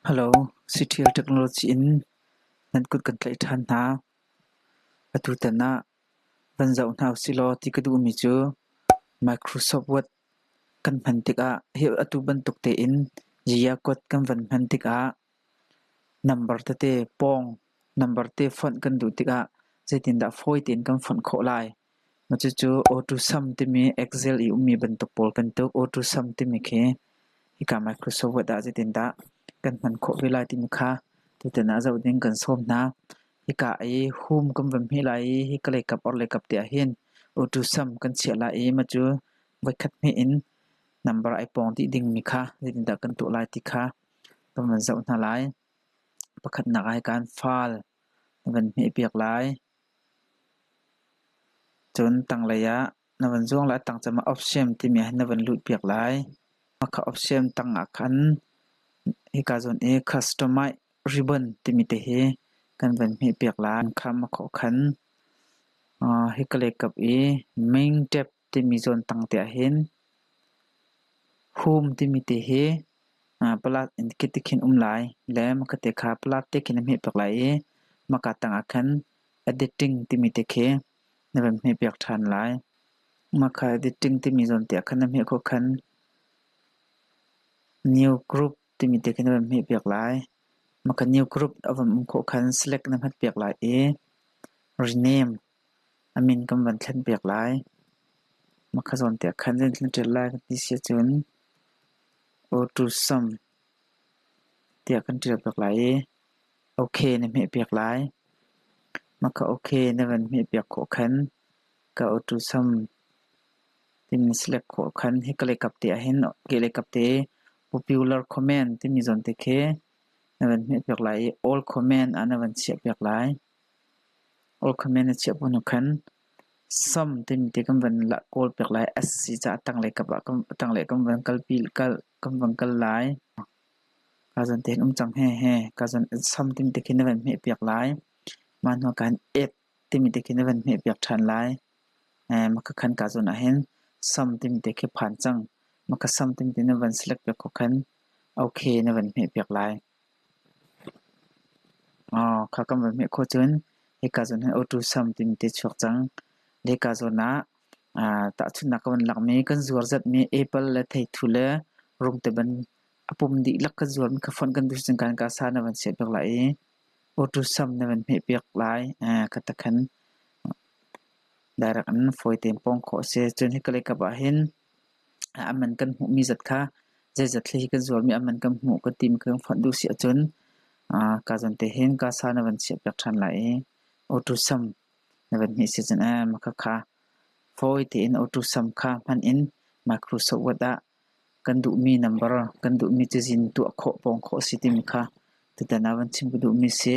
Halo, Citial Technology in nan kut kan tlaih ṭhan hna. Atutan ah van zoh hna usihlaw ti ka duhmi cu Microsoft Word kan hman tikah hi atu bantuk tein Giacode kan van hman tikah number tete pawng, number te fonh kan duh tikah zeitindah fawi tein kan fonh khawh lai? Cucu AutoSum timi Excel i ummi bantuk pawl kan tuk. AutoSum timi khi hika Microsoft Word ah zeitindah kan hman khawh ve lai timi kha tutan ah zoh ding kan sawm hna. Hika i hum kan van hmih lai i hika leikap orhlei kap te ahhin AutoSum kan chiah lai i mah cu voikhat hmih in number ai pawng dih dingmi kha zeitindah kan tuah lai ti kha kan van zoh hna lai. Pakhatnak ah hika in File na van hmih piak lai. Cun tanglei ah na van zuang le a tang cungah ofsiam timi ah hin na van lut piak lai. Mah kha ofsiam tang ah khan hika zawn i customized ribbon timi te hi kan van hmeh piak lai. An kham a khawh khan hi ka lekkap i meng tep timi zawntang te ahhin hum timi te hi palat in kit te khin um lai le makhat te kha palat te khin a hmeh piak lai i maka tangah khan editing timi te khi na van hmeh piak ṭhan lai. Maka editing timi zawnte ah khan na hmeh khawh khan new group timi te khi na van hmeh piak lai. Maka new group a van um khawh khan select na hmat piak lai i rename A min kan van thlen piak lai. Mahka zawn te ah khan nan thlen ṭial lai kan ti si ahcun Autusm tiah kan ṭial piak lai i OK na hmeh piak lai. Mahka OK na van hmeh piak khawh khan ka Autusm timi select khawh khan hi kaleikap te ah hin keleikap te popular comment timi zawn te khi na van hmeh piak lai i all comment ah na van chiah piak lai. All Command a chiah bu hnu khan Som timi ti kan van kawl piak lai asi caah tanglei kan van kal lai. Kazan te hin um cang hehe. Kazan Som timi ti khin na van hmeh piak lai. Mah hnu ah khan Ek timi ti khin na van hmeh piak ṭhan lai. Maka khan kazan ah hin Som timi ti khi phan cang. Maka Som timi ti na van select piak ko khan OK na van hmeh piak lai. Kha kan von hmeh khawh cun hika zawn hin auto sam timi ti a chuak cang. Le hika zawn ah tahchunhnak kan von lakmi kan zuarzatmi apple le theithu le rungte ban a pum dihlak kan zuarmi kha fonh kan duh si cang ka in ka sa na van seh piak lai i auto sam na van hmeh piak lai kha takhan direct in fawi tein pawng khawh a si. Cun hika le ikap ah hin A man kan hmuhmi zat kha zeizat hlei hi kan zualmi a man kan hmuh ka tim ka kan fonh duh si ahcun kaa zan te hin kasa na van chiah piak ṭhan lai i auto sam na van hmih si cun makhakha fawi tein auto sam kha hman in micro sohwat ah kan duhmi number kan duhmi cazin tuah khawh pawng khawh si timi kha tutan ah van chim ka duhmi a si.